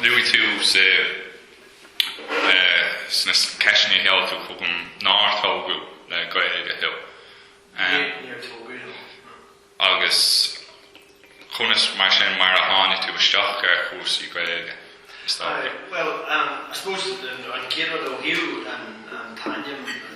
Luaigh tú sa sna ceisteanna a sheol tú chugam nár tógadh le Gaeilge thú. Níor tógadh liom. Agus conas, mar sin, mar a tháinig tú isteach ar chúrsaí Gaeilge, is dócha? Bhuel, I suppose an chéad rud ó thaobh an t-ainm,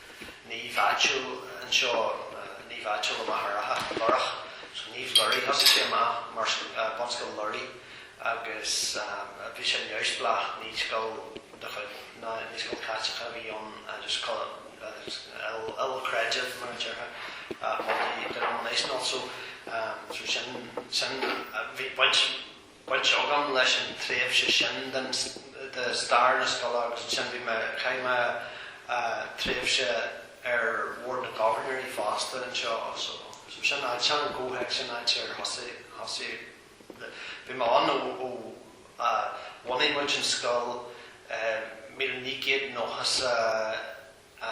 naomh áitiúil anseo, naomh áitiúil i Machaire Rátha, Lúrach, so Naomh Lúraigh, thosaigh sé amach mar Bunscoil Lúraigh agus bhí sé neamhspleách, ní scoil de chuid, ní scoil Chaitliceach a bhí ann agus ilchreidmheach mar a déarfá, multi-denominational so, so sin, sin, bhí baint, agam leis an tréimhse sin den de stair na scoile agus ansin bhí mé, chaith mé tréimhse ar Bhord na nGobharnóirí fosta anseo so so sin áit, sin an comhthéacs sin áit ar thosaigh thosaigh le bhí mé ann ó a bhunaigh muid an scoil i míle naoi gcéad nócha 's a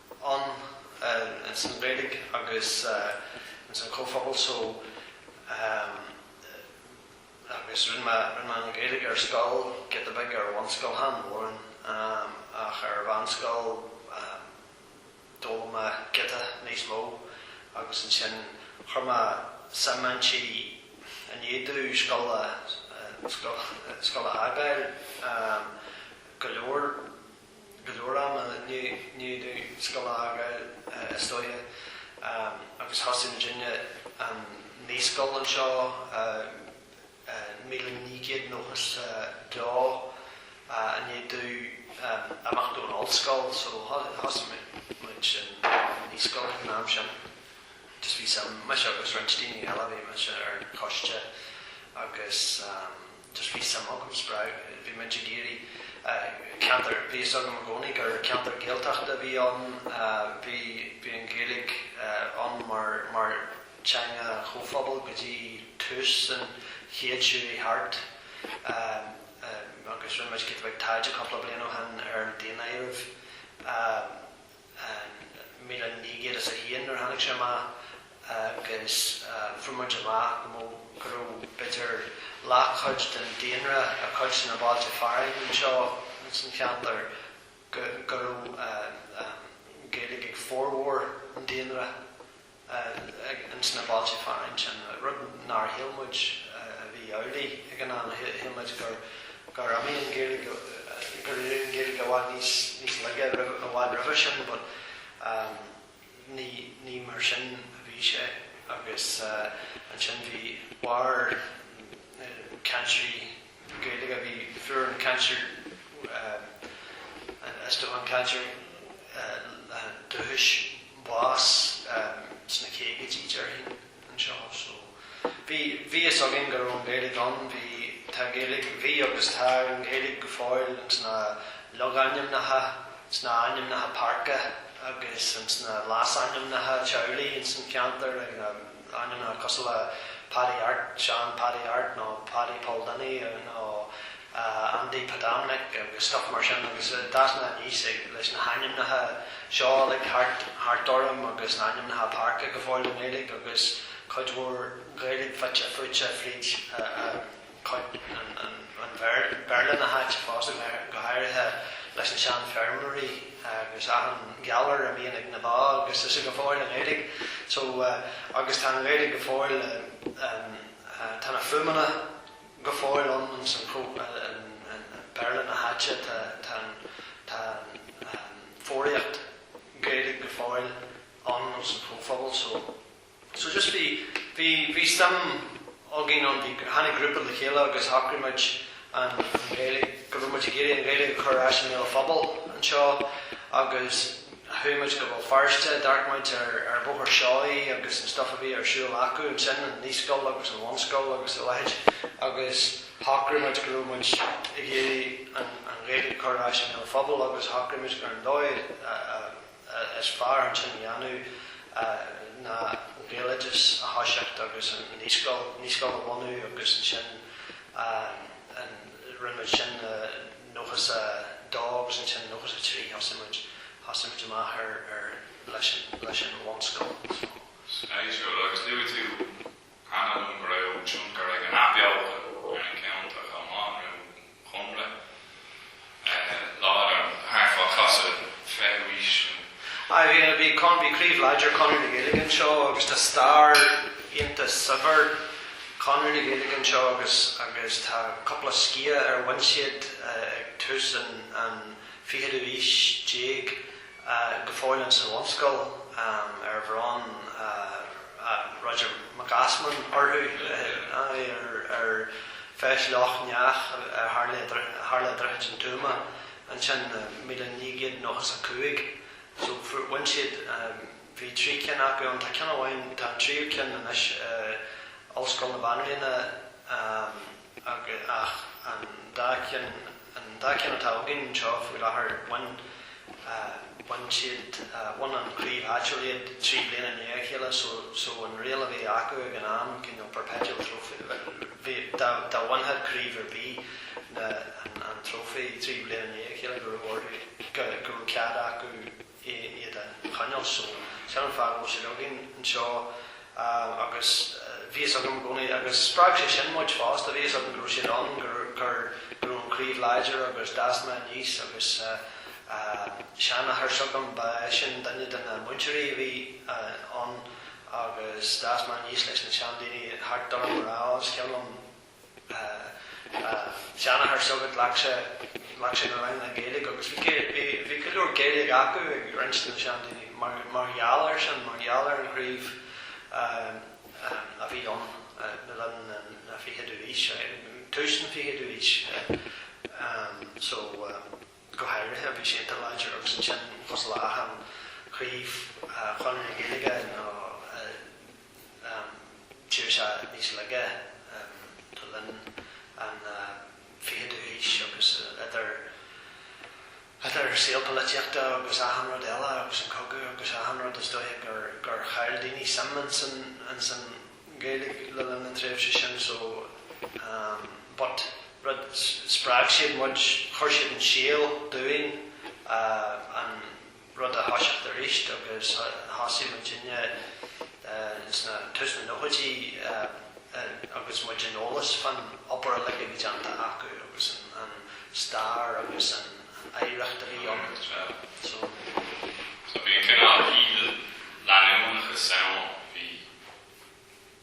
ann ins an Ghaeilge agus ins an chomhphobal so agus rinne mé an Ghaeilge ar scoil, giota beag ar bhunscoil, chan mórán ach ar mheánscoil d'fhoghlaim mé giota níos mó agus ansin chuir mé suim inti i ndiaidh domh scoil a scoil a fhágáil go leor. go leor ama, i ndiaidh domh scoil a fhágáil is dóigh, agus thosaigh muid an naíscoil anseo i míle naoi gcéad nócha 's a dó, i ndiaidh domh imeacht ón ollscoil so thosaigh muid an naíscoil ag an am sin just bhí suim, mise agus roinnt daoine eile, bhí mise ar an choiste agus. Just bhí suim agam, spreag, bhí muid ag iarraidh ceantar, bhí fhios agam i gcónaí gur ceantar Gaeltachta a bhí ann, bhí, bhí an Ghaeilge ann mar, mar teanga chomhphobail go dtí tús an chéid seo thart agus rinne muid giota beag taighde cúpla bliain ó shin ar an daonáireamh. an míle naoi gcéad is a haon nuair a tháinig sé amach agus fuair muid amach go mó, go raibh b'fhéidir leathchuid den daonra i gcuid de na bailte fearainn anseo ins an cheantar, go raibh an Ghaeilge ag formhór an daonra. ins na bailte fearainn sin, rud nár shíl muid a bhí amhlaidh ag an am, shíl muid gur imigh an Ghaeilge, gur éirigh an Ghaeilge i bhfad níos laige i bhfad roimhe sin but ní mar sin a bhí sé agus ansin bhí, mhair na cainteoirí. Gaeilge a bhí fuair an cainteoir is dócha an cainteoir dúchais bás sna caogaidí déarfainn anseo so bhí bhí fhios againn go raibh an Ghaeilge ann bhí tá an Ghaeilge bhí agus tá an Ghaeilge go fóill insna logainmneacha sna ainmneacha páirce agus insna leasainmneacha teaghlaigh ins an cheantar ag na ainmneacha cosúil le Paddy Art, Seán Paddy Art nó Paddy Paul Danny nó Andy Pat Dominic agus stuif mar sin agus d'fhás mé aníos leis na hainmneacha seo uilig thart orm agus na hainmneacha páirce go fóill i nGaeilge agus cuid mhór Gaeilge fite fuaite fríd a chuid an Bhéarla na háite fós, go háirithe leis na seanfheirmeoirí agus achan ghalar a bhíonn ag na ba agus is go fóill i nGaeilge so agus tá an Ghaeilge go fóill tá na fuaimeanna go fóill ann insan chomh an Béarla na háite tá tá an foghraíocht Ghaeilge go fóill ann insan chomhphobal so. So just bhí, bhí, bhí suim againn ann, bhí, tháinig grúpa le chéile agus shocraigh muid an Ghaeilge, go raibh muid ag iarraidh an Ghaeilge a chur ar ais i mbéal an phobail anseo agus chuaigh muid go Béal Feirste, d'amharc muid ar, ar Bhóthar Seoighe agus an stuif a bhí ar siúl acu ansin, an naíscoil agus an bhunscoil agus a leithéid agus shocraigh muid go raibh muid ag iarraidh an, an Ghaeilge a chur ar ais i mbéal an phobail agus shocraigh muid gur an dóigh a, a. Is fearr chun sin a dhéanamh ná an Gaeloideas a thoiseacht agus an naíscoil, naíscoil a bhunú agus ansin an, rinne muid sin i 92 agus ansin i 93 thosaigh muid, thosaigh muid amach ar, ar, leis an, leis an bhunscoil. Is maith seo, agus luaigh tú cheana nó go raibh tionchar ag an athbheochan ar na ceantair chomh maith nó Conradh láidir thart fá chasadh an fichiú haois nó. Ar aon le bhí Con, bhí craobh láidir Chonradh na Gaeilge anseo agus tá stair iontach saibhir Chonradh na Gaeilge anseo agus agus tá cúpla sciath ar bhain siad ag tús an fichiú haois déag go fóill ann sa bhunscoil ar bhronn Roger Mac Easmainn orthu, aye, ag Feis Loch nEathach a tharla i Droichead an Tuama ansin i míle naoi gcéad nócha is a cúig, so fuair, bhain siad, bhí trí cinn acu ann, tá ceann amháin, tá an tríú ceann anois i Ollscoil na Banríona, aye. Ach an dá cheann, an dá cheann atá againn anseo faoi láthair, bhain, bhain siad, bhain an chraobh áitiúil iad trí bliana i ndiaidh a chéile so, so an riail a bhí acu ag an am, cineál perpetual trophy, bhí, dá, dá bhainfeadh craobh ar bith na, an, an trófaí trí bliana i ndiaidh a chéile go raibh orthu, go, go raibh cead acu, é iad a choinneáil. So, sin an fáth go bhfuil siad againn anseo agus bhí a fhios agam i gcónaí agus spreag sé sin muid fosta, bhí a fhios againn go raibh siad ann, gur go raibh an craobh láidir agus d'fhás mé aníos agus seanathair s'agam, ba eisean duine de na múinteoirí a bhí ann agus d'fhás mé aníos leis na seandaoine thart orm a rá, is cuimhin liom, seanathair s'agat, ghlac sé, ghlac sé na ranganna Gaeilge agus bhí, bhí, bhí go leor Gaeilge acu ag roinnt de na seandaoine mar, mar gheall air sin, mar gheall ar an chraobh a bhí ann le linn na, an fichiú aois, tús an fichiú aois so go háirithe bhí siad an-láidir agus ansin, cosúil le achan chraobh Chonradh na Gaeilge nó. D'éirigh sé níos laige le linn an 20ú haois agus idir saol polaitíochta agus achan rud eile agus an cogadh agus achan rud is dóiche gur chaill daoine suim ins an Ghaeilge le linn na tréimhse sin so but ar ndóigh spreag siad muid, chuir siad an síol dúinn an rud a thoiseacht aríst agus thosaigh muidinne i dtús na nóchaidí agus muidinne eolach fán obair uilig a bhí déanta acu agus an stair agus an oidhreacht a bhí ann so bhí an cineál stíl leanúnachas ann, bhí.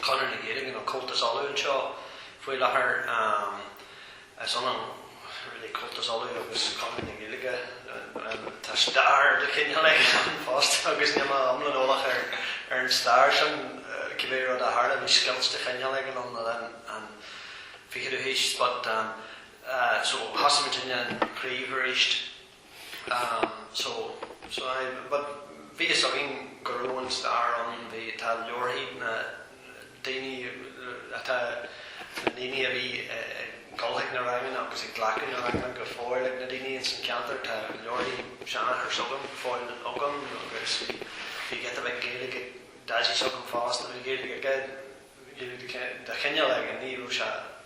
Conradh na Gaeilge nó Comhaltas Uladh anseo faoi láthair. Is ionann really Comhaltas Uladh agus Conradh na Gaeilge, tá stair de chineál éigin ann fosta agus níl mé iomlán eolach ar an stair sin. Cibé rud a tharla bhí scoilt de chineál éigin ann le linn an fichiú haois but, so thosaigh muidinne an craobh aríst. Bhí a fhios againn go raibh an stair ann, tá leabharthaí na ndaoine, tá na daoine a bhí ag dul chuig na ranganna agus ag glacadh na ranganna go fóill ag na daoine ins an cheantar, tá leabharthaí seanathair s'agam go fóill agam agus bhí giota beag Gaeilge ag Daidí s'agam fosta, bhí Gaeilge aige de chineál éigin, ní raibh sé.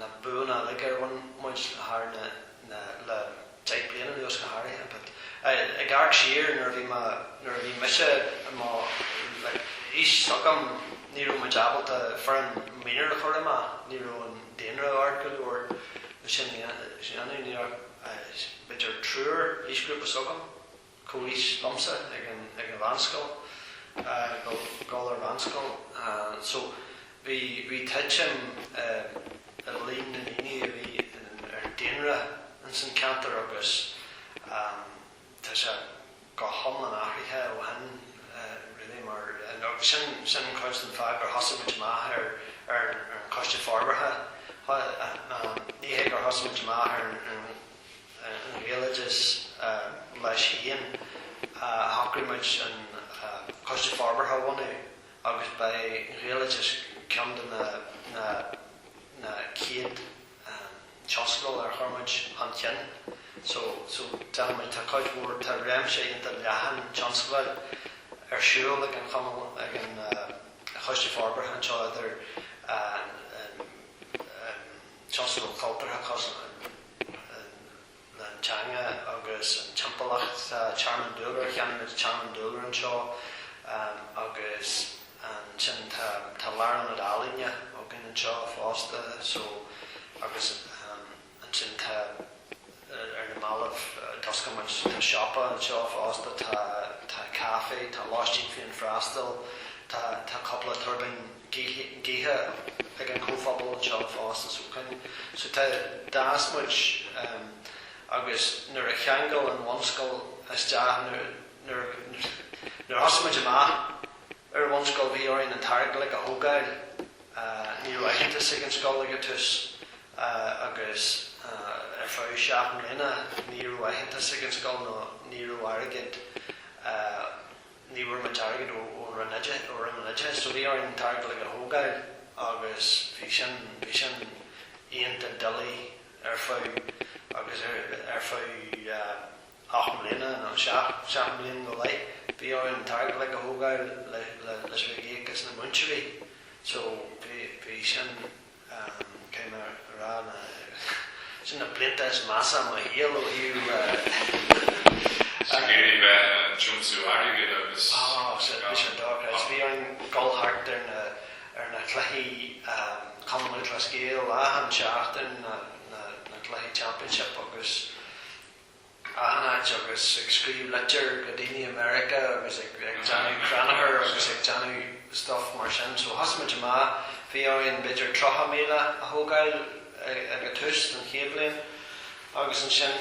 na buanna uilig a bhain muid thar na na, le deich bliana anuas go háirithe but eh ag amharc siar nuair a bhí mé, nuair a bhí mise i mo like aois s'agam ní raibh muid ábalta foireann minor a chur amach, ní raibh an daonra ard go leor le sin a dhéanamh, ní raibh, eh b'fhéidir triúr aoisghrúpa s'agam. chomh haois liomsa ag an ag an mheánscoil eh ag dul ar mheánscoil eh so bhí bhí tuitim eh i líon na ndaoine a bhí ar daonra ins an cheantar agus eh tá sé go hiomlán athraithe ó shin eh really mar agus sin sin cuid den fáth gur thosaigh muid amach ar ar an coiste forbartha eh eh ní hé gur thosaigh muid amach ar an an Ghaeloideachas leis féin, shocraigh muid an Coiste Forbartha a bhunú agus b'é an Ghaeloideachas ceann de na chéad tionscadail a chuir muid chun cinn. So, déanann muid, tá cuid mhór, tá réimse iontach leathan tionscadail ar siúl ag an Chumann, ag an Choiste Forbartha anseo idir tionscadal cultúrtha cosúil leis an teanga agus an timpeallacht, tearmann dúlra, cheannaigh muid tearmann dúlra anseo agus ansin tá lárionad ealaíne againn anseo fosta, so, agus ansin tá. ar na mallaibh d'oscail muid, tá siopa anseo fosta, tá caife, tá lóistín féinfhreastail, tá tá cúpla tuirbín gaoithe ag an chomhphobal anseo fosta so can so tá d'fhás muid agus nuair a cheangail an bhunscoil isteach nuair nuair a thosaigh muid amach ar an bhunscoil bhí orainn an t-airgead a thógáil, ní raibh aitheantas ag an scoil ag an tús agus ar feadh seacht mbliana ní raibh aitheantas ag an scoil nó ní raibh airgead, ní bhfuair muid airgead ó Roinn Oideachais, ó Roinn an Oideachais, so bhí orainn an t-airgead uilig a thógáil agus bhí sin, bhí sin iontach doiligh ar feadh, agus ar, ar feadh ocht mbliana nó seacht, seacht mbliain go leith bhí orainn an t-airgead uilig a thógáil le, le, leis a bheith ag íoc as na múinteoirí so bhí, bhí sin. cé nár bhreá na. sin na blianta is measa i mo shaol ó thaobh. Sa chéilí bheith ag tiomsú airgid agus. Ó, sin é, sin dócha. Is bhí orainn dul thart ar na, ar na cluichí Cumann Lúthchleas Gael achan seachtain, na, na, na cluichí championship agus. achan áit agus ag scríobh litir chuig daoine i Meiriceá agus ag déanamh crannchuir agus ag déanamh stuff mar sin so thosaigh muid amach, bhí orainn b'fhéidir tríocha míle a thógáil ag a' tús den chéad bhliain agus ansin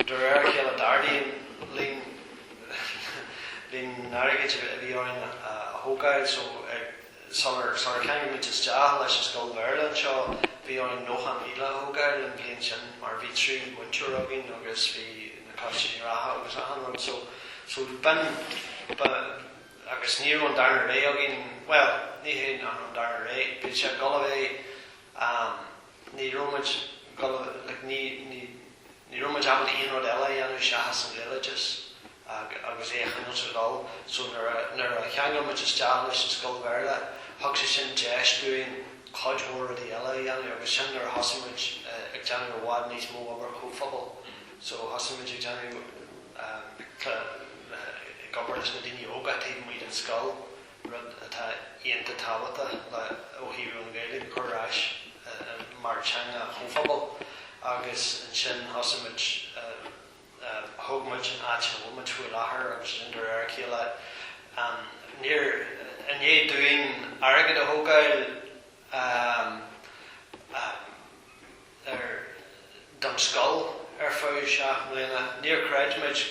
de réir a chéile d'ardaigh líon, líon, líon an airgid a bhí orainn a thógáil so ag. Sular tháinig muid isteach leis an scoil Bhéarla anseo, bhí orainn nócha míle a thógáil an bhliain sin mar bhí trí mhúinteoir againn agus bhí na costais reatha agus achan rud so, so b'in, ba, agus ní raibh an darna ré againn, well, ní hé nach raibh an darna rogha, bhí sé ag dul away, eh, ní raibh muid like ní, ní, ní raibh muid ábalta aon rud eile a dhéanamh seachas an bhailiú airgid agus é a choinneáil ag dul so nuair a, nuair a cheangail muid isteach leis an scoil Bhéarla thug sé sin deis dúinn cuid mhór rudaí eile a dhéanamh agus sin nuair a thosaigh muid ag déanamh i bhfad níos mó obair chomhphobail so thosaigh muid ag déanamh, like, ag obair leis na daoine óga taobh amuigh den scoil. rud atá iontach tábhachtach ó thaobh an Ghaeilge a chur ar ais mar teanga an chomhphobail agus ansin thosaigh muid thóg muid an áit a bhfuil muid faoi láthair agus ansin de réir a chéile níor i ndiaidh dúinn airgead a thógáil a ar don scoil ar feadh seacht mbliana. Níor chreid muid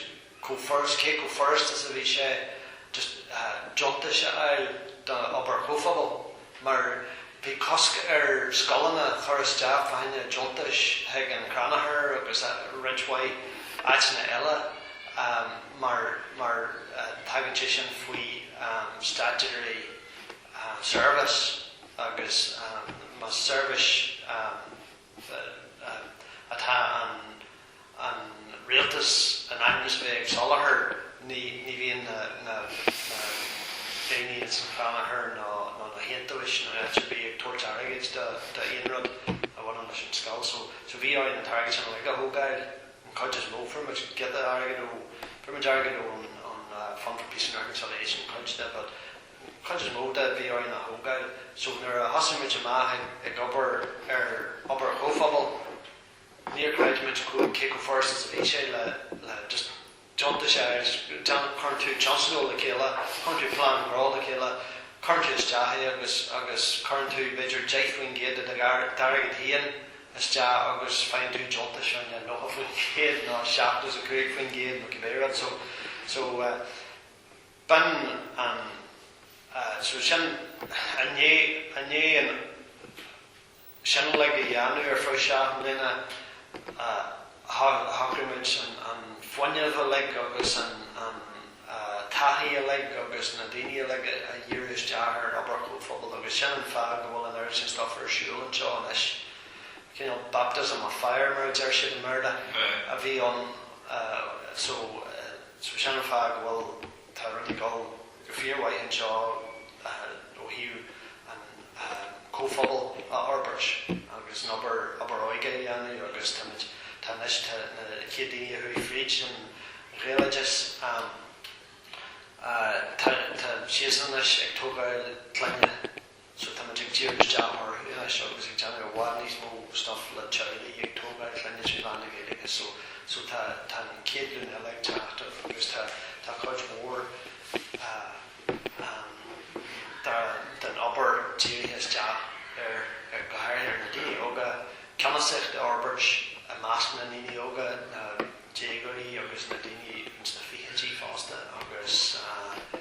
chomh furast, cé chomh furast is a bhí sé just deontais a fháil do obair chomhphobail mar bhí cosc ar scoileanna cur isteach fá choinne deontais chuig an Crannchur agus roinnt mhaith áiteanna eile mar mar tagann sé sin faoi statutory service. agus más seirbhís atá an rialtas in ainm is a bheith ag soláthar, ní bhíonn na daoine ar nós an chrannchur ná na hiontaobhais ná áit ar bith ag tabhairt airgid d'aon rud a bhaineann leis an scoil. So so bhí orainn an t-airgead sin uilig a thógáil, an cuid is mó. Fuair muid giota airgid ó, fuair muid airgead ón Fund for Peace and Reconciliation, cuid de, but Chuid is mó de a bhí orainn a thógáil so nuair a thosaigh muid amach ag obair ar obair chomhphobail níor chreid muid cé chomh furasta is a bhí sé le just deontais a fháil, cuireann tú tionscadal le chéile, cuireann tú plean gnó le chéile, cuireann tú isteach é agus agus cuireann tú b'fhéidir deich faoin gcéad de do d'airgead féin isteach agus faigheann tú deontas ar an nócha faoin gcéad nó seachtó is a cúig faoin gcéad nó cibé rud so, so, B'in an, so sin i ndiaidh, i ndiaidh an, sin uilig a dhéanamh ar feadh seacht mbliana, shocraigh muid an, an fuinneamh uilig agus an, an taithí uilig agus na daoine uilig a dhíriú isteach ar an obair chomhphobail agus sin an fáth go bhfuil an oiread sin stuif ar siúl anseo anois, cineál baptism of fire mar a deir siad i mBéarla a bhí ann, so. So sin an fáth go bhfuil, tá rudaí ag dul go fíormhaith anseo ó thaobh an comhphobal a fhorbairt agus an obair, obair óige a dhéanamh agus táimid, tá anois, tá na chéad daoine a chuaigh fríd an Ghaeloideas, tá, tá siadsan anois ag tógáil clainne. So tá muid ag díriú isteach orthu anois agus ag déanamh i bhfad níos mó stuff le teaghlaigh, ag tógáil clainne trí mheán na Gaeilge so so tá tá an chéad ghlúin eile ag teacht agus tá tá cuid mhór eh ehm dá den obair dírithe isteach ar ar go háirithe ar na daoine óga, ceannasaíocht a fhorbairt i measc na ndaoine óga, na déagóirí agus na daoine ins na fichidí fosta agus eh.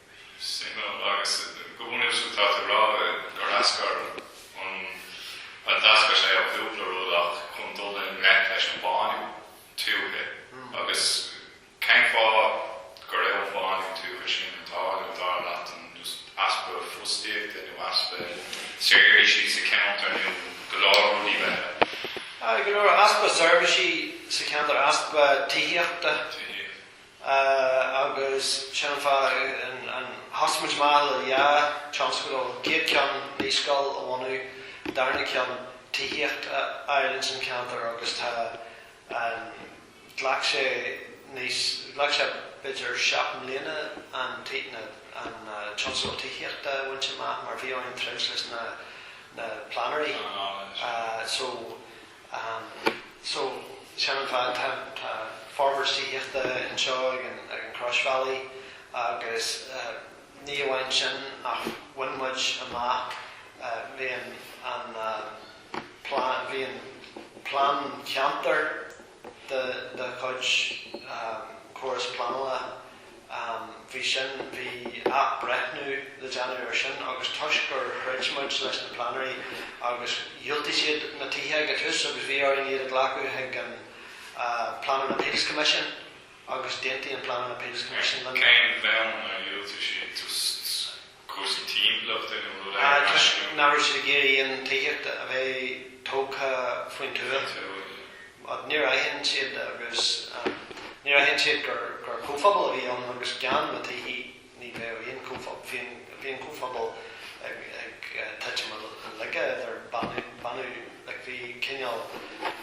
Signal agus go bhfuilim sa tstat a rá gur eascair an an d'eascair sé ó chúpla rud ach chun dul i ngleic leis an bhánú tuaithe agus cén fáth go raibh an bánú tuaithe sin ag tarlú, dar leat, an just easpa fostaíochta nó easpa seirbhísí sa cheantar nó go leor rudaí beithe? Aye, go leor, easpa seirbhísí sa cheantar, easpa tithíochta. Tithíocht. Agus sin an fáth a thosaigh muid amach le dhá tionscadal, chéad ceann naíscoil a bhunú, darna ceann tithíocht a fháil ins an cheantar agus tá an, ghlac sé níos, ghlac sé b'fhéidir seacht mbliana an an tionscadal tithíochta a bhaint amach mar bhí orainn troid leis na na pleanairí, so. So, sin an fáth, tá, tá forbairt tithíochta anseo ag an, ag an chroisbhealaigh agus ní amháin sin ach bhain muid amach, bhí an, an plean, bhí an plean ceantair de, de chuid córas pleanála am. Bhí sin, bhí athbreithniú le déanamh ar sin agus toisc gur throid muid leis na pleanairí agus dhiúltaigh siad na tithe ag an tús agus bhí orainn iad a ghlacadh chuig an Planning Appeals Commission agus d'aontaigh an Planning Appeals Commission linn. Cén bonn ar dhiúltaigh siad? cúrsaí timpeallachta nó rud éigin mar sin. Toisc nach raibh siad ag iarraidh aon tithíocht a bheith tógtha faoin tuath. Níor aithin siad, níor aithin siad gur comhphobal a bhí ann agus gan na tithí ní bheadh aon chomhphobal. Bhí an comhphobal ag titim i laige idir bánú, like bhí cineál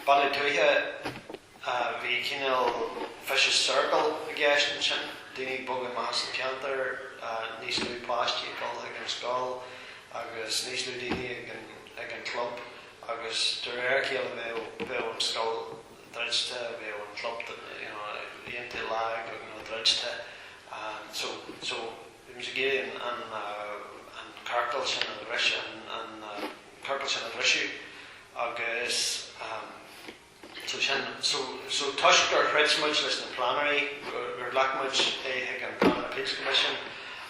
bánú tuaithe, Bhí cineál vicious circle i gceist ansin, daoine ag bogadh amach as an cheantar, níos lú páistí ag dul chuig an scoil agus níos lú daoine ag an gclub agus de réir a chéile bheadh an scoil druidte, bheadh an club iontach lag nó druidte. So bhí muid ag iarraidh an ciorcal sin a bhriseadh agus. So sin, so, so toisc gur throid muid leis na pleanairí, gur, gur ghlac muid é chuig an Planning Appeals Commission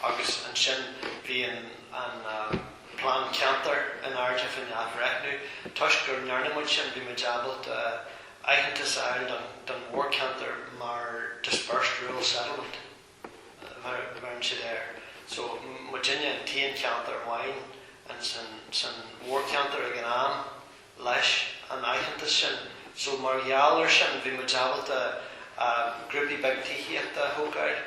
agus ansin bhí an, an eh, Plean Ceantair in airde faoin athbhreithniú, toisc gur ndearn muid sin bhí muid ábalta aitheantas a fháil don, don mhórcheantar mar dispersed rural settlement. bheireann siad air. So, muidinne an t-aon cheantar amháin in san, san mhórcheantar ag an am, leis an aitheantas sin. So, mar gheall ar sin, bhí muid ábalta grúpaí beaga tithíochta a thógáil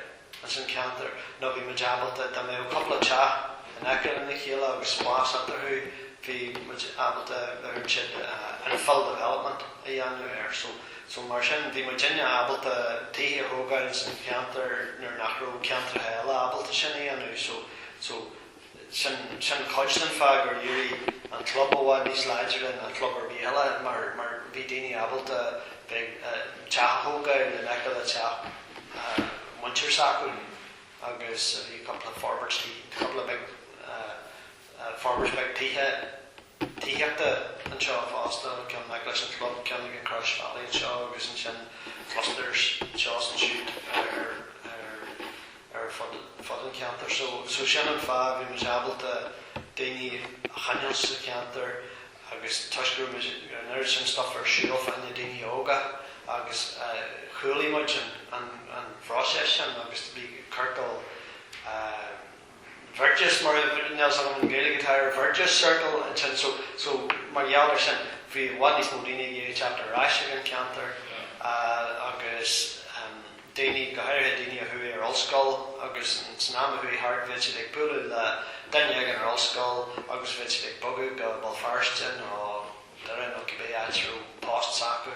in san cheantar, nó bhí muid ábalta, dá mbeadh cúpla teach in aice lena chéile agus spás eatarthu, bhí muid ábalta, bheireann siad, infill development a dhéanamh air. So. So mar sin, bhí muidinne ábalta tithe a thógáil san cheantar nuair nach raibh ceantracha eile ábalta sin a dhéanamh so, so sin, sin cuid den fháth gur éirigh an club i bhfad níos láidre ná club ar bith eile mar, mar bhí daoine ábalta bheith, teach a thógáil in aice le teach muintir s'acu agus bhí cúpla forbairtí, cúpla beag. Forbairt bheag tithe tithíochta anseo fosta, ceann in aice leis an chlub, ceann ag an Chroisbhealaí anseo agus ansin clusters anseo is ansiúd ar fud an cheantair. So sin an fáth a bhí muid ábalta daoine a choinneáil sa cheantar agus toisc go raibh muid, an oiread sin stuff ar siúl fá choinne daoine óga agus chuidigh muid an phróiseas sin agus bhí ciorcal Virtuous, níl a fhios agam an Ghaeilge atá ar virtuous circle ansin so, so mar gheall ar sin bhí i bhfad níos mó daoine ag iarraidh teacht ar ais ag an cheantar agus daoine, go háirithe daoine a chuaigh ar ollscoil agus san am a chuaigh thart bheadh siad ag bualadh le duine éigin ar ollscoil agus bheadh siad ag bogadh go Béal Feirste nó Doire nó cibé áit a raibh post s'acu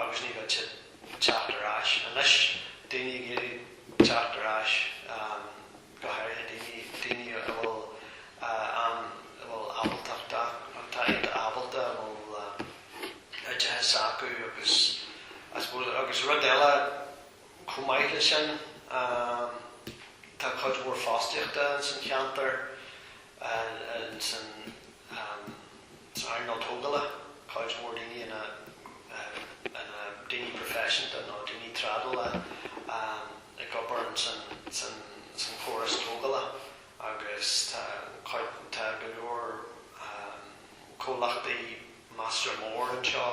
agus ní bheadh siad ag teacht ar ais. Anois daoine ag iarraidh teacht ar ais. go háirithe daoine a bhfuil an, a bhfuil ábaltacht acu, atá iontach ábalta, a bhfuil oideachas acu agus I suppose, agus rud eile chomh maith leis sin, tá cuid mhór fostaíochta ins an cheantar, ins an. san earnáil tógála, cuid mhór daoine ina ndaoine proifisiúnta nó daoine trádála ag obair san chóras tógála agus tá go leor comhlachtaí measartha mór anseo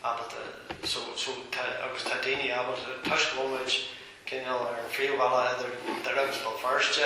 ábalta so agus tá daoine ábalta toisc go bhfuil muid cineál ar an phríomhbhealach idir Doire agus Béal Feirste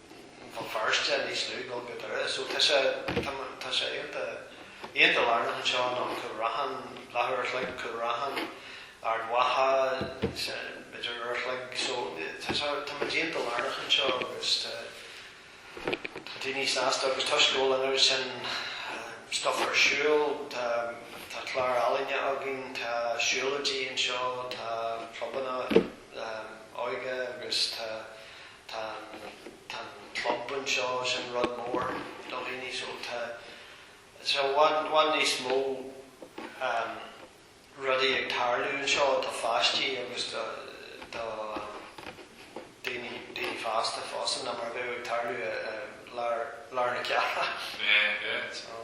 Tá Feirste níos lú ná go Doire so tá sé, tá sé iontach, iontach lárnach anseo nó Cúil Raithin, leathuair a chloig, Cúil Raithin, Ard Mhacha, b'fhéidir uair a chloig so tá sé, tá muid iontach lárnach anseo agus tá, tá daoine sásta agus toisc go bhfuil an oiread sin stuff ar siúl, tá, tá clár ealaíne againn, tá siúlóidí anseo, tá clubanna óige agus tá. Tá an, tá an club anseo, is é an rud mór do dhaoine so tá, so bíonn, bíonn níos mó rudaí ag tarlú anseo do pháistí agus do, do daoine, daoine fásta fosta ná mar a bheadh ag tarlú i lár, lár na cealla. Mé, mé. So.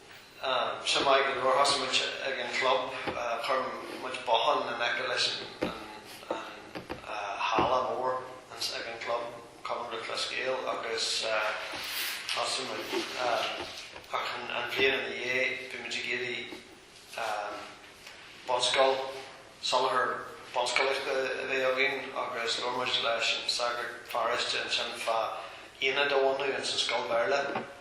Sin maith go leor, thosaigh muid ag an chlub, chuir muid bothán in aice leis an halla mór ag an chlub, Cumann Lúthchleas Gael, agus thosaigh muid, ach an bhliain ina dhiaidh bhí muid ag iarraidh bunscoil, soláthar bunscolaíochta a bheith againn agus labhair muid leis an sagart paróiste ansin fá aonad a bhunú ins an scoil Bhéarla.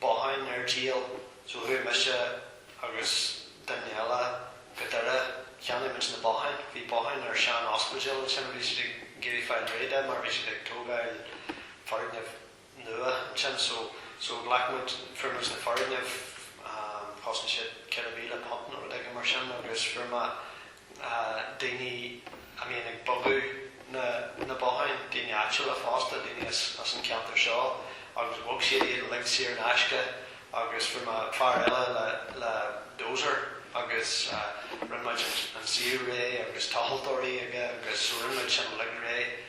botháin ar díol, so chuaigh mise agus duine eile go Doire, cheannaigh muid na botháin, bhí botháin ar sean-ospidéal ansin a bhí siad ag iarraidh fáil réidh de mar bhí siad ag tógáil foirgneamh nua ansin, so, so ghlac muid, fuair muid na foirgnimh, chosain siad £4,000 nó rud éigin mar sin agus fuair mé daoine a bhíonn ag bogadh na na botháin, daoine áitiúla fosta, daoine as as an ceantar seo agus bhog siad iad uilig saor in aisce agus fuair mé fear eile le le dozer agus rinne muid an suíomh réidh agus tochaltóirí aige agus rinne muid sin uilig réidh.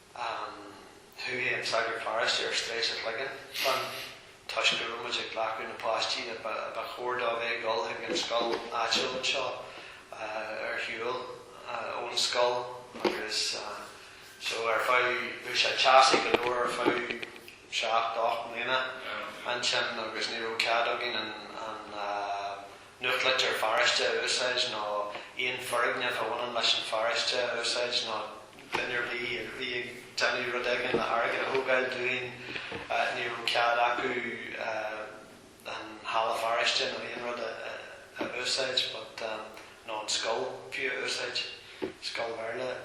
Ansin chuaigh an sagart paráiste ar strae sa chloigeann leis an toisc go raibh muid ag glacadh na páistí a ba chóir dóibh a dhul chuig an scoil áitiúil anseo ar shiúl ón scoil agus so ar feadh, bhí sé teasaí go leor ar feadh seacht, ocht mbliana ansin agus ní raibh cead againn an nuachtlitir pharóiste a úsáid nó aon foirgneamh a bhaineann leis an pharóiste a úsáid nó duine ar bith a bhí ag déanamh rud éigin, airgead a thógáil dúinn, ní raibh cead acu an halla pharóiste nó aon rud a úsáid but nó an scoil fiú a úsáid, scoil Bhéarla.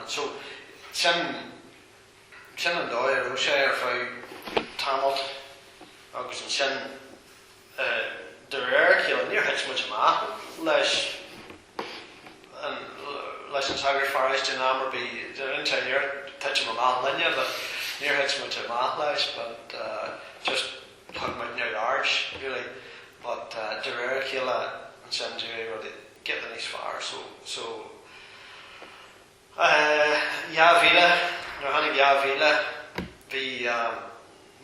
So sin, sin an dóigh a raibh sé ar feadh tamalt agus ansin. De réir a chéile níor thit muid amach leis an, leis an sagart pharóiste in am ar bith, deireann sé níor thit sé amach linne but níor thit muid amach leis but just thug muid neamhaird really but de réir a chéile ansin d'éirigh rudaí giota níos fearr so, so. Dhá mhíle, nuair a tháinig dhá mhíle bhí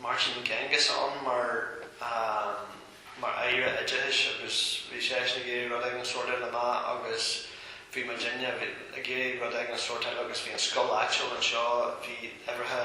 Martin McGuinness ann mar Aire Oideachais agus bhí seisean ag iarraidh rud éigin a shórtáil amach agus bhí muidinne ag iarraidh rud éigin a shórtáil agus bhí an scoil áitiúil anseo, bhí aontaithe,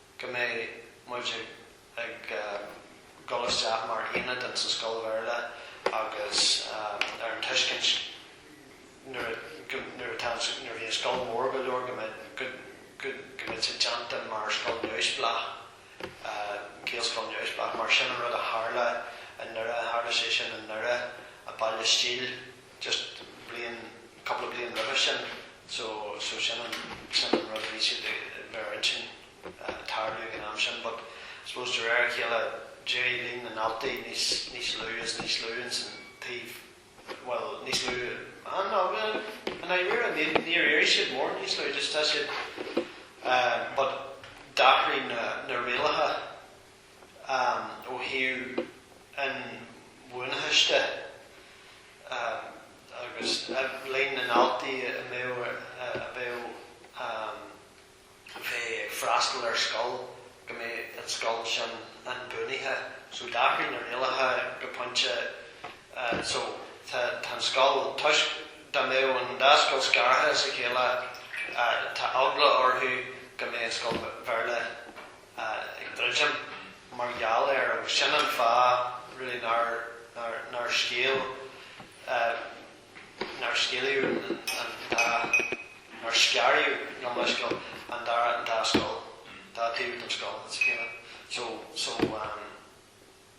go mbeadh muid ag dul isteach mar aonad ins an scoil Bhéarla agus ar an tuiscint nuair atá an, nuair a bhí an scoil mór go leor go, go mbeadh sé déanta mar scoil neamhspleách, Gaelscoil neamhspleách. Mar sin an rud a tharla i nDoire, tharla sé sin i nDoire, i mBaile Stíl. just bliain, cúpla bliain roimhe sin so, so sin an, sin an rud a bhí siad a bheith ar intinn a tarlú ag an am sin but I suppose de réir a chéile d'éirigh líon na ndaltaí níos, níos lú is níos lú ins an taobh, bhuel níos lú, ah no, bhuel i ndáiríre níor, níor éirigh siad mór níos lú just tá siad eh but d'athraigh na, na rialacha. ó thaobh an bhuanaitheais de agus líon na ndaltaí a mba chóir a bheith ag freastal ar scoil, go mbeadh an scoil sin inbhuanaithe. So d'athraigh na rialacha go pointe so tá an scoil, toisc dá mbeadh an dá scoil scartha óna chéile, tá eagla orthu go mbeadh an scoil Bhéarla, ag druidim mar gheall air agus sin an fáth really nár, nár, nár scéal, nár scéalaíodh an dá, nár scaradh gabh mo leithscéal, an dara, an dá scoil, dá taobh den scoil, it's a kind of, so, so,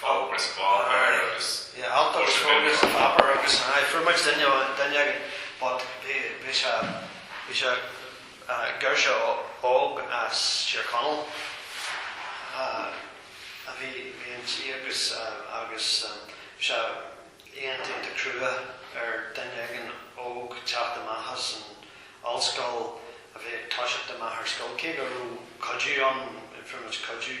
Thóg muid an bád air agus chuir sé binn ar an tobar agus. Aye, fuair muid duine éigin but bhí sé, bhí sé, girseach óg as Tír Chonaill a bhí inti agus, agus bhí sé iontach crua ar duine éigin óg teacht amach as an ollscoil a bhí ag toiseacht amach ar scoil, cé go raibh cuidiú ann, fuair muid cuidiú.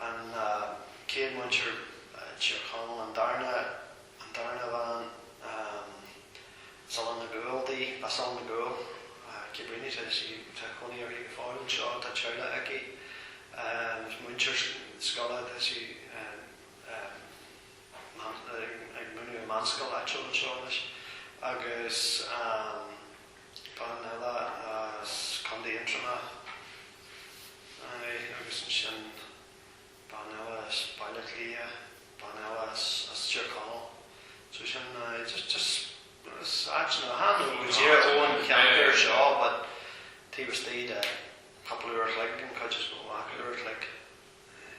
an chéad mhúinteoir as Tír Chonaill, an darna, an darna bhean, Sala na Gúl di, a Sal na Gúl, Cibrini, tá sí, tá cónaí uirthi go fóill anseo, tá teaghlach aici, múinteoir scoile, tá sí ag múineadh i meánscoil áitiúil anseo anois, agus. bean eile as Contae Aontroma, aye, agus ansin bean eile as Baile Átha Cliath, bean eile as, as Tír Chonaill, so sin, aye, just, just, as áiteanna, a tháinig go Tír Eoghain, an cheantar seo, but taobh istigh de cupla uair a chloig, an chuid is mó acu, uair a chloig, aye.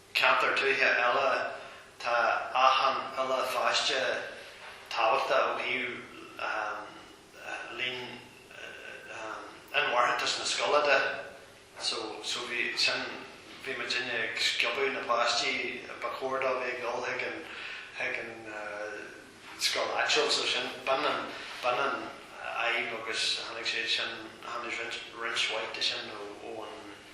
ceantar tuaithe eile, tá achan uile pháiste tábhachtach ó thaobh líon inmharthantas na scoile de so so bhí sin bhí muidinne ag sciobadh na páistí ba chóir dóibh a dhul chuig an chuig an scoil áitiúil so sin b'in an b'in an fhadhb agus tháinig sé sin tháinig roinnt roinnt mhaith de sin ó an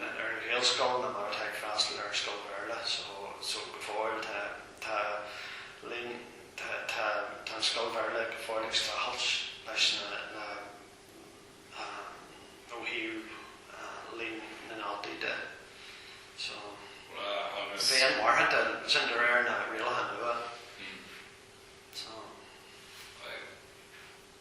ar an ghaelscoil ná mar atá ag freastal ar scoil Bhéarla so go fóill. Tá tá líon tá tá tá an scoil Bhéarla go fóill ag streachailt leis na na ehm ó thaobh ehm líon na ndaltaí de so agus bheith inmharthana sin de réir na rialacha nua so.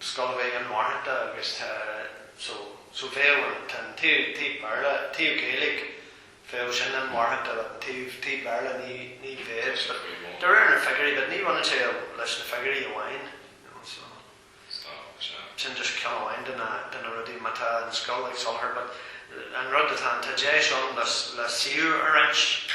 scoil a bheith inmharthana agus tá so, so bheadh an, tá an taobh, taobh Béarla, taobh Ghaeilge, bheadh sin inmharthana an taobh, taobh Béarla ní, ní bheadh but de réir na figiúirí but ní bhaineann sé leis na figiúirí amháin you know so sin just ceann amháin de na, de na rudaí má tá an scoil ag soláthar but an rud atá ann, tá deis ann le, le suíomh a roinnt.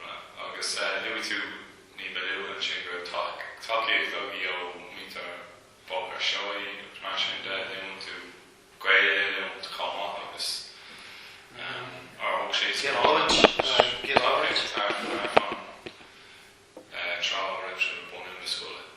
Right. Agus luaigh tú ní ba luaithe ansin go raibh tacaíocht agaibh ó mhuintir Bhóthar Seoighe agus mar sin de. An luann tú Gaeil eile iontu chomh maith agus nár thug sé spás do thacaíocht ar an trá a raibh sibh ag bunú na scoile?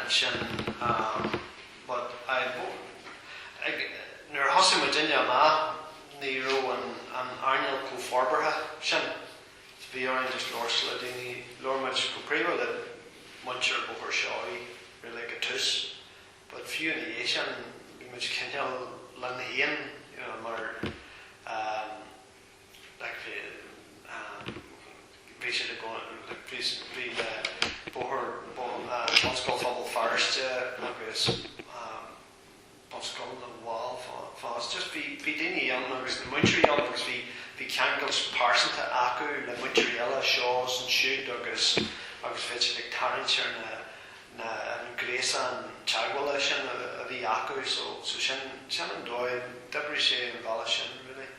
ansin but I ag, nuair a thosaigh muid amach ní raibh an an earnáil chomh forbartha sin so bhí orainn just labhairt le daoine, labhair muid go príomha le muintir Bhóthar Seoighe really ag an tús but fiú ina dhiaidh sin bhí muid cineál linn féin you know mar ehm, like bhí siad ag dul, bhí bóthar Bunscoil Phobal Feirste agus Bunscoil na bhFál, just bhí daoine ann agus na múinteoirí ann agus bhí ceangal pearsanta acu le múinteoirí eile anseo is ansiúd agus agus bhí siad ag tarraingt ar na an gréasán teagmhála sin a bhí acu so sin an dóigh, d'oibrigh sé an bealach sin really.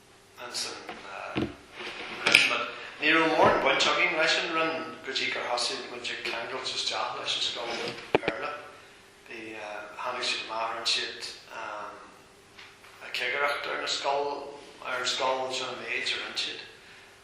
Ansin bhris muid. Ní raibh mórán baint againn leis an Roinn go dtí gur thosaigh muid ag ceangailt isteach leis an scoil Bhéarla. Bhí, tháinig siad amach, rinne siad cigireacht ar na scoil, ar an scoil, sin an méid a rinne siad.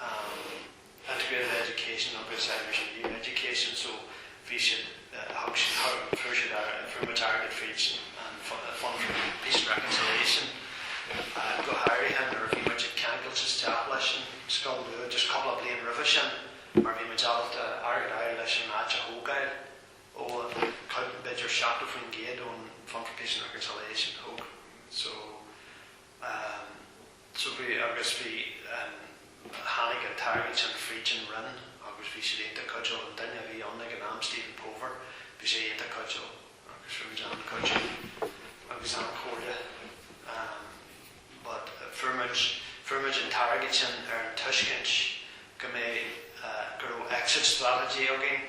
um Integrated Education agus Irish and New Education so bhí siad thug siad thug fuair siad airgead fríd an Fund for Peace and Reconciliation uh go háirithe nuair a bhí muid ag ceangailt isteach leis an scoil nua just cúpla bliain roimhe sin mar bhí muid ábalta airgead fháil leis an áit a thógáil ó thuaidh b'fhéidir 70% den Fund for Peace and Reconciliation thóg so um. So bhí, agus bhí an, tháinig an t-airgead sin fríd an Roinn agus bhí siad iontach cuidiúil, an duine a bhí ann ag an am, Stephen Pover, bhí sé iontach cuidiúil agus fuair muid an-chuidiú agus an-chomhairle ehm but fuair muid, fuair muid an t-airgead sin ar an tuiscint go mbeidh eh go raibh exit strategy againn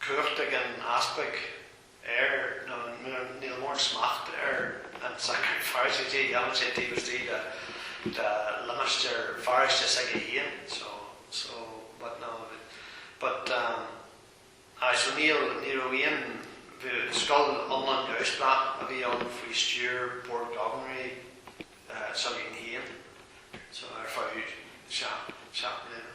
cumhacht ag an easpag air nó níl mórán smacht ar an tsagart paróiste, déanann sé taobh istigh de limistéar pharóiste s'aige fhéin so, so but no but um aye so níl, ní raibh aon scoil iomlán, iomlán neamhspleách a bhí ann faoi stiúir Bord Gobharnóirí s'againn fhéin so ar feadh seacht, seacht mbliana.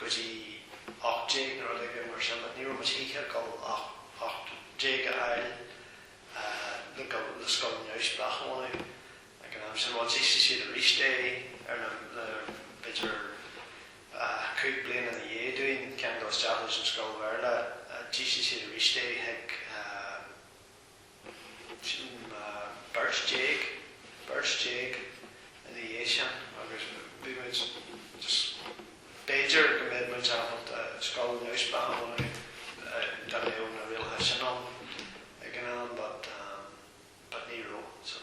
go dtí ocht déag nó rud éigin mar sin, ní raibh muid choíche ag dul ocht déag a fháil le go le scoil neamhspleách a bhunú ag an am sin. Bhuel, d'ísligh siad aríst é ar na, le, b'fhéidir cúig bliana ina dhiaidh dúinn, ceangal isteach leis an scoil Bhéarla, d'ísligh siad aríst é chuig. Sin beirt déag, beirt déag ina dhiaidh sin agus bhí muid just, b'fhéidir go mbeadh muid ábalta scoil neamhspleách a dhéanamh dá mbeadh na rialacha sin ann ag an am but ní raibh so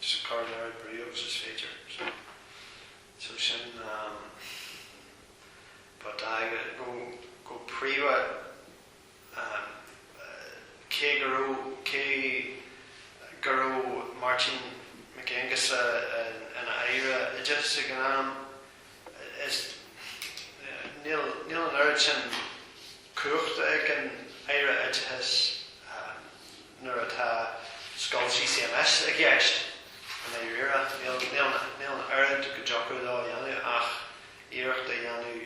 Is cur lear ag briocht is féidir. So sin ba dáighe nó go príomha cé go raibh, cé go raibh Máirtín Mac Aonghusa ina Aire Oideachais ag an am, is níl, níl an oiread sin cumhachta ag an Aire Oideachais nuair atá scoil CCMS i gceist, i ndáiríre, níl an oiread go dtiocfadh leo a dhéanamh ach iarracht a dhéanamh,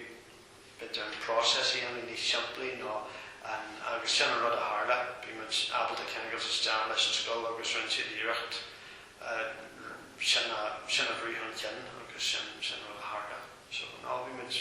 b'fhéidir, an process a dhéanamh níos simplí nó an. agus sin an rud a tharla, bhí muid ábalta ceangailt isteach leis an scoil agus rinne siad iarracht sin a bhrú chun cinn agus sin an rud a tharla. So, no, bhí muid.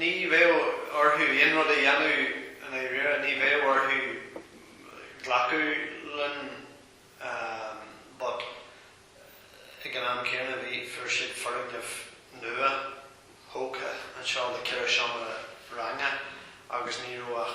Ní bheadh orthu aon rud a dhéanamh i ndáiríre, ní bheadh orthu glacadh linn but ag an am céanna bhí, fuair siad foirgneamh nuathógtha anseo le ceithre seomra ranga agus ní raibh ach,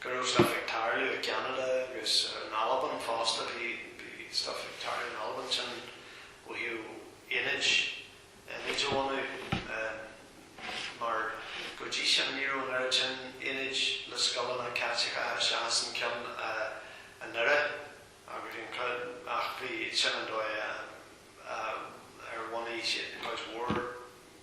go raibh stuff ag tarlú i gCeanada agus in Albain fosta, bhí stuff ag tarlú in Albain ansin ó thaobh aonaid a bhunú mar go dtí sin ní raibh an oiread sin aonaid le scoileanna Caitliceacha seachas an ceann i nDoire agus an ach bhí, sin an dóigh ar bhunaigh siad cuid mhór.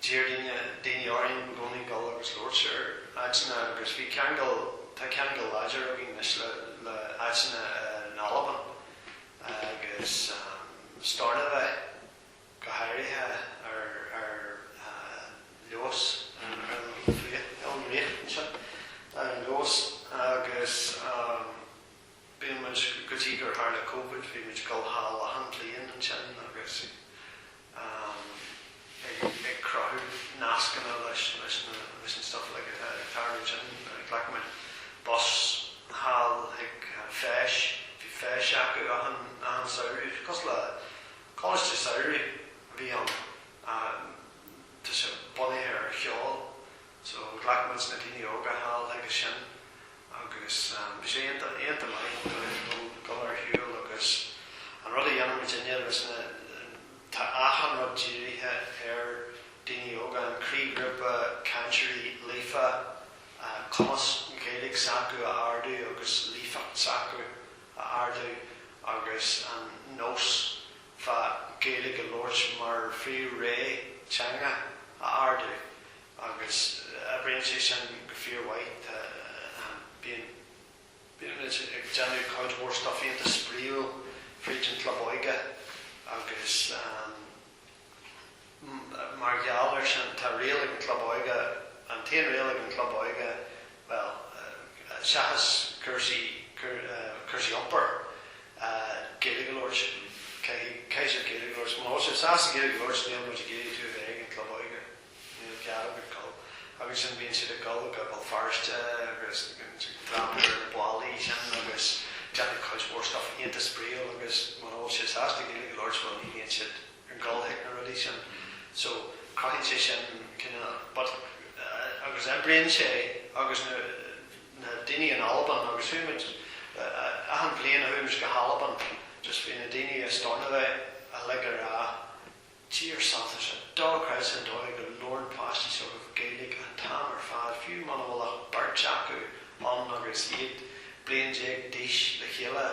D'iarr daoine, daoine orainn i gcónaí dul agus labhairt sé ar áiteanna agus bhí ceangal, tá ceangal láidir againn anois le, le áiteanna in Albain agus Stornoway go háirithe ar, ar Lewis an, an ríocht, an ríocht anseo, ar an Lewis agus. Bíonn muid, go dtí gur tharla Covid, bhí muid ag dul thall achan bhliain ansin agus ag cruthú nascanna leis an stuif uilig atá ag tarlú ansin. Ghlac muid bus thall chuig feis, bhí feis acu achan samhradh, cosúil le coláiste samhraidh a bhí ann, tá sé bunaithe ar cheol. So ghlac muid na daoine óga thall chuige sin agus bhí sé iontach, iontach maith dóibh dul ar shiúl agus an rud a dhéanann muid an dinimic ná, tá achan rud dírithe ar daoine óga, an croíghrúpa cainteoirí líofa, cumas na Gaeilge s'acu a ardú agus líofacht s'acu a ardú agus an nós fá Gaeilge a labhairt mar phríomh-rétheanga a ardú. Agus oibríonn sé sin go fíormhaith. Tá, ahem, bíonn, bíonn muid ag déanamh cuid mhór stuif iontach spraíúil fríd an gclub óige agus, ahem, mar gheall air sin, tá riail ag an gclub óige, an t-aon riail ag an gclub óige, bhuel, seachas cúrsaí, cúrsaí iompair, Gaeilge a labhairt, caithfidh, caithfidh sibh Gaeilge a labhairt, muna bhfuil sibh sásta Gaeilge a labhairt níl muid ag iarraidh tú a bheith ag an gclub óige. Níl cead agat dul. Agus ansin bíonn siad ag dul go Béal Feirste agus dreapadh ar na ballaí sin agus déanamh cuid mhór stuff iontach spraíúil agus muna bhfuil siad sásta Gaeilge a labhairt bhuel ní bhíonn siad ag dul chuig na rudaí sin so cruthaíonn sé sin cinneadh but agus oibríonn sé agus na na daoine in Albain agus chuaigh muid achan bhliain chuaigh muid go hAlbain just bhí na daoine i Stornoway uilig ar a tír saibhte seo. Dochreidte an dóigh go labhrann páistí s'agaibh Gaeilge an t-am ar fad, fiú muna bhfuil ach beirt acu ann agus iad bliain déag d'aois le chéile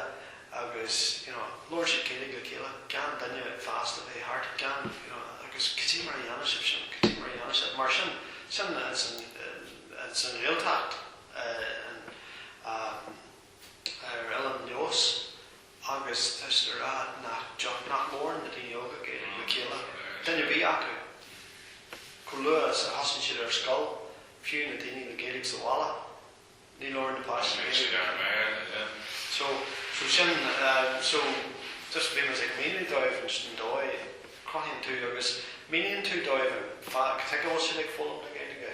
agus, you know, labhrann siad Gaeilge le chéile gan duine fásta bheith thart, gan, you know, agus cad é mar a dhéanann sibh sin, cad é mar a dhéanann sibh, mar sin, sin, sin an Ghaeltacht, an, an, ar Eilean Leòdhais agus is le rá nach dtiocfadh, nach labhrann na daoine óga Gaeilge le chéile, duine ar bith acu, chomh luath is a thosaíonn siad ar scoil, fiú na daoine le Gaeilge sa bhaile, ní labhrann na páistí Gaeilge. Bíonn siad ar a méir, na deich. So, so sin, so, just bhí mise ag míniú dóibh an dóigh a chruthaíonn tú agus míníonn tú dóibh an fáth cad chuige a bhfuil siad ag foghlaim na Gaeilge.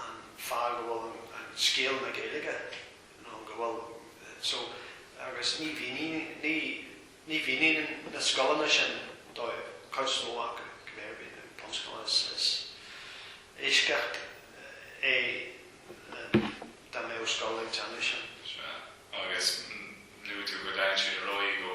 an fáth go bhfuil scéal na Gaeilge nó go bhfuil so agus ní mhíníonn, ní, ní mhíníonn na scoileanna sin dóibh, cuid is mó acu, cibé ar bith, na bunscoileanna is, is eisceacht é dá mbeadh scoil ag déanamh sin. Sea, agus luaigh tú go dtagann siad ar aghaidh ó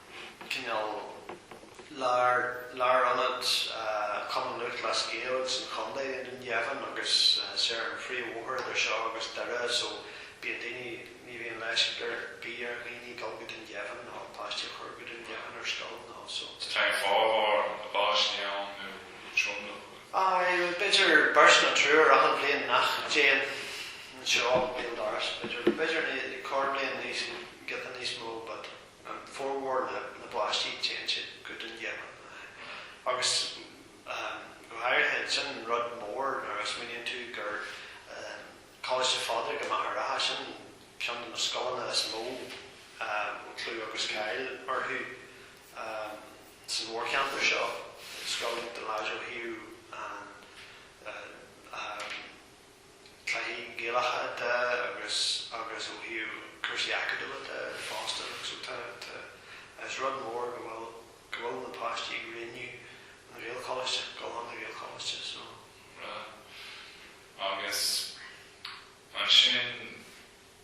cineál lár, lárionad Chumann Lúthchleas Gael sa chontae i nDún Geimhin agus tá sé ar an phríomhbhóthar idir seo agus Doire so bíonn daoine, ní bhíonn leisc ar bith ar dhaoine dul go Dún Geimhin nó páistí a chur go Dún Geimhin ar scoil nó so. Is téann formhór na bpáistí ann nó tromlach ann. Aye, b'fhéidir beirt nó triúr achan bhliain nach dtéann anseo bliain dár gcionn, b'fhéidir, b'fhéidir corrbhliain níos, giota níos mó but. formhór na bpáistí téann siad go Dún Geimhin, agus go háirithe, sin rud mór nuair a smaoiníonn tú gur Coláiste Phádraig i Machaire Rátha, sin ceann de na scoileanna is mó a bhfuil clú agus cáil orthu sa mhórcheantar seo, scoil Dalláid Ó hAodha an. cluichí Gaelacha de agus agus ó thaobh cúrsaí acadúla de fosta agus so tá tá is rud mór go bhfuil go bhfuil na páistí ag roghnú an Ghaelcholáiste, ag gabháil an Ghaelcholáiste so. Bhreá. Agus ansin.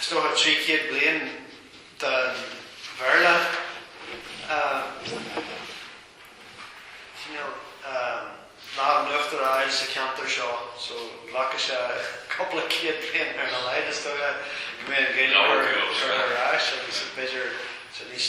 is dócha trí chéad bliain den Bhéarla, cineál lámh in uachtar a fháil sa cheantar seo, so ghlacfadh sé cúpla céad bliain ar a laghad, is dócha, go mbeadh an Ghaeilge curtha ar ais agus b'fhéidir níos,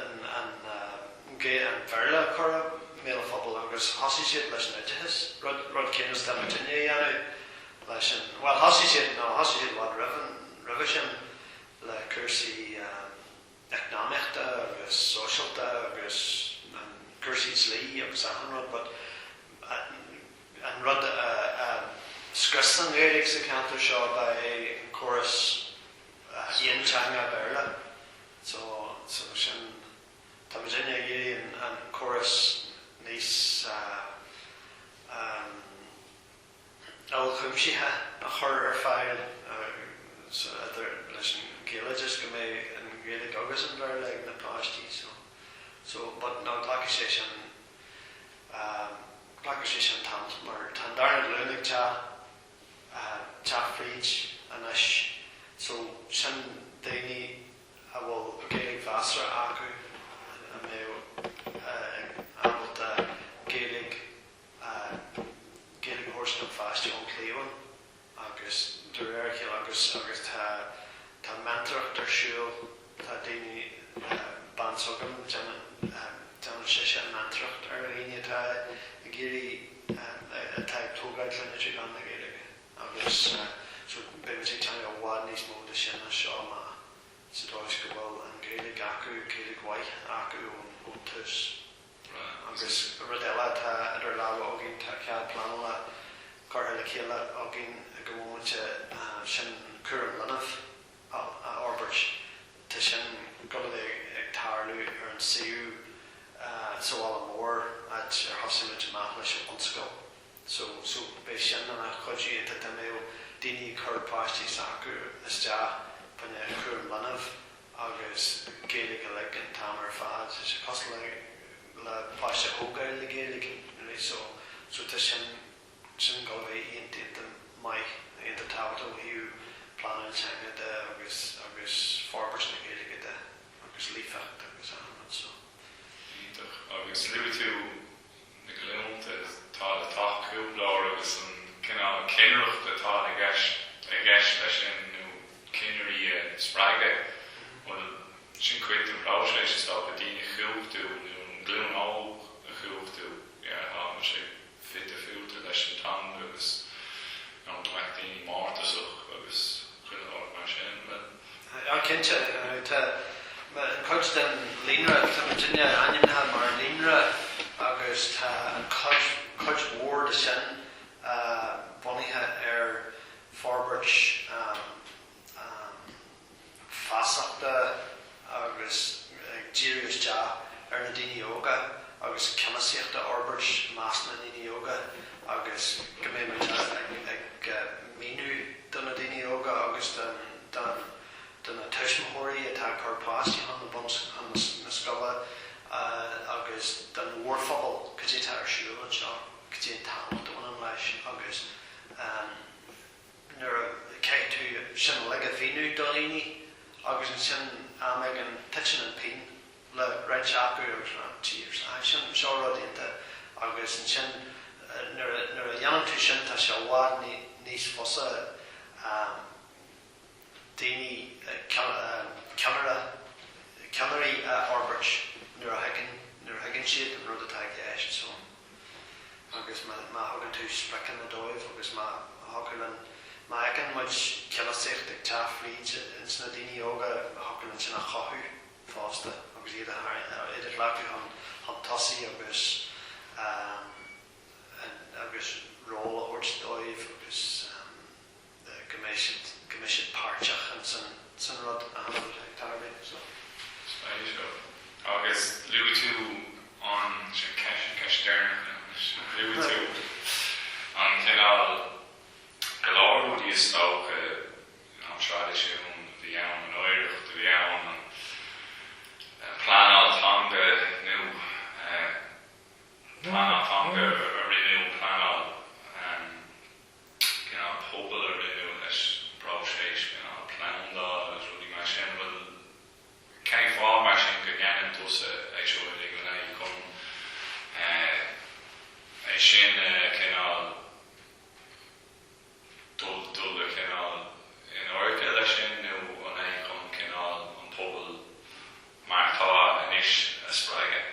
in ann go dtí an Béarla a chur i mbéal an phobail agus thosaigh siad leis an oideachas, rud, rud céanna is atá muidinne a dhéanamh leis an, bhuel, thosaigh siad, no, thosaigh siad i bhfad roimh an, roimhe sin le cúrsaí eacnamaíochta agus sóisialta agus an, cúrsaí dlí agus achan rud but an rud a, a scrios an Ghaeilge sa cheantar seo ba é an córas aonteanga Béarla. So, agus sin, tá muidinne ag iarraidh an córas níos, ahem, uilechuimsithe a chur ar fáil, so, idir, leis an Ghaeloideas, go mbeidh an Ghaeilge agus an Béarla ag na páistí, so, so, but no glacfaidh sé sin, ahem, glacfaidh sé sin tamall, mar tá an darna glúin ag teacht. teacht fríd anois. So, sin daoine a bhfuil Gaeilge mheasartha acu, a mbeadh ábalta Gaeilge a thabhairt don pháiste ón chliabhán agus de réir a chéile, agus tá meantóireacht ar siúl, Tá daoine, bean s'againn, déanann sise meantóireacht ar dhaoine atá ag iarraidh, atá ag tógáil clainne trí mheán na Gaeilge agus so beimid ag déanamh i bhfad níos mó de sin as seo amach sa dóigh go bhfuil an Ghaeilge acu, Gaeilge mhaith acu ón tús. Agus rud eile atá idir lámha againn, tá cead pleanála curtha le chéile againn ag an móimint, sin cúram leanbh. a fhorbairt. Tá sin ag gabháil a bheith ag tarlú ar an suíomh sa bhaile mór, áit ar thosaigh muid amach leis an bhunscoil. So, so beidh sin ina chuidiú, go mbeidh daoine ag cur páistí s'acu isteach faoin chúram leanbh agus Gaeilge uilig an t-am ar fad. Tá sé cosúil le le páiste a thógáil le Gaeilge, you know what I mean, so, so tá sin. ansin go bhfuil an-tábhacht ó thaobh pleanáil na teanga de agus agus forbairt na Gaeilge de agus líofacht agus an rud seo. Iontach. Agus luaigh tú na glúnta atá le teacht chugainn lár agus an cineál cinnireacht atá i gceist i gceist leis sin nó cinnirí a spreagadh. Bhuel, sin cuid den phróiseas is dócha, daoine a chumhachtú nó an ghlúin óg a chumhachtú, yeah, tá sé. bhí difriúilte leis an teanga agus gan go mbeadh daoine mórtasach agus chuile shórt mar sin le. Á, cinnte, tá cuid den líonra tá muidne ainmnithe mar líonra agus tá cuid, cuid mhór de sin bunaithe ar forbairt. feasachta agus ag díriú isteach ar na daoine óga agus ceannasaíocht a fhorbairt i measc na ndaoine óga agus go mbeidh muid ag míniú do na daoine óga agus do na tuismitheoirí atá ag cur páistí chun na scoile agus don mhórphobal cad é atá ar siúl anseo, cad é an tábhacht a bhaineann leis agus. nuair a chaithfidh tú sin uilig a mhíniú do dhaoine agus ansin am éigin titeann an phingin le roinnt acu agus deir siad ah sin seo rud iontach agus ansin nuair a nuair a dhéanann tú sin tá sé i bhfad níos fusa. daoine, ceannaire, ceannairí a fhorbairt nuair a thuigeann, nuair a thuigeann siad an rud atá i gceist. So. agus má, má thugann tú spriocanna dóibh agus má thiocfadh an, má fheiceann muid ceannasaíocht ag teacht fríd ins na daoine óga thiocfadh linn sin a chothú fosta agus iad a tharraing, iad a ghlacadh chun, chun tosaigh agus agus ról a thabhairt dóibh agus. go mbeidh siad, go mbeidh siad páirteach in san, san rud an-luath, dar liom, so. Spreag seo. Agus luaigh tú ansin, ceist, an ceist deireanach é anois, luaigh tú an cineál, go leor rudaí is dócha, you know, traidisiún a bhí ann, an oidhreacht a bhí ann, an pleanáil teanga nó eh, an pleanáil teanga a rinneadh, an pleanáil, an. pleanáil pobail a rinneadh leis an bpróiseas, cineál plandáil agus rudaí mar sin. Bhuel, cén fáth mar sin go ndéanann tusa é seo uilig an é chun é sin a cineál dul, dul a cineál in éiric leis sin nó an é chun cineál an pobal mar atá anois a spreagadh?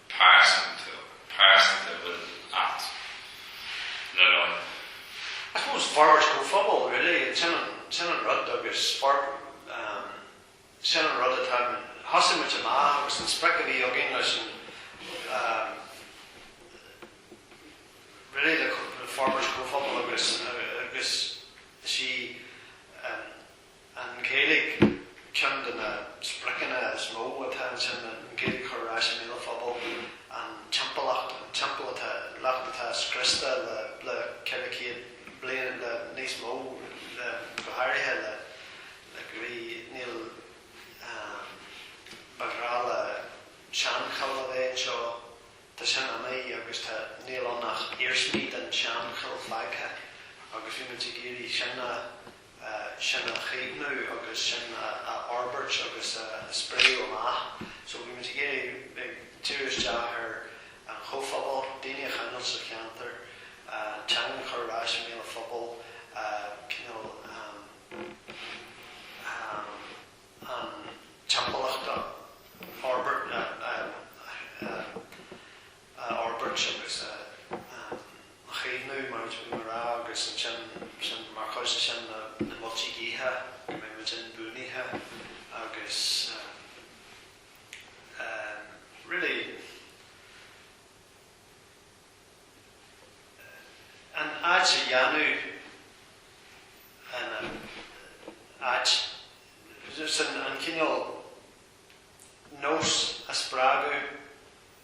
pearsanta, pearsanta a bhfuil, dar liom. I suppose forbairt comhphobail really, sin an, sin an rud agus for, sin an rud atá, thosaigh muid amach agus an sprioc a bhí againn is é really ná forbairt comhphobail agus, agus is í an, An Ghaeilge, Ceann de na spriocanna is mó atá ansin an Ghaeilge a chur ar ais i mbéal an phobail. An timpeallacht, an timpeallacht atá scriosta le, le ceithre chéad bliain, le níos mó, le, go háirithe le, le go dtí, níl, ba ghnách le seanchoill a bheith anseo, tá sin imithe agus tá, níl ann ach iarsmaí den seanchoill fágtha agus bhí muid ag iarraidh sin a, sin a chaomhnú agus sin a fhorbairt agus a spréadh amach. So bhí muid ag iarraidh ag diriú isteach ar an chomhphobal, daoine a choinneáil sa cheantar, an teanga a chur ar ais i mbéal an phobail, cineál an timpeallacht a fhorbairt, a. a fhorbairt agus a chaomhnú mar a d'fhéadfaí a rá agus ansin mar chuid de sin na Muilte Liatha, go mbeidh muid inbhuanaithe agus ehm really an áit a dhéanamh ina áit sin an cineál nós a spreagadh,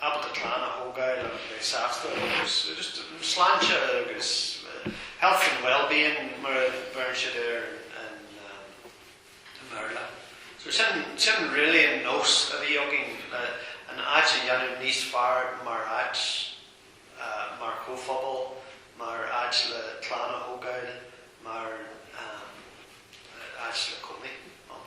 ábalta clann a thógáil agus bheith sásta agus just sláinte agus health and wellbeing mar a bheireann siad air i mBéarla. So sin, sin really an nós a bhí againn le an áit a dhéanamh níos fearr mar áit, mar chomhphobal, mar áit le clann a thógáil, mar áit le cónaí ann.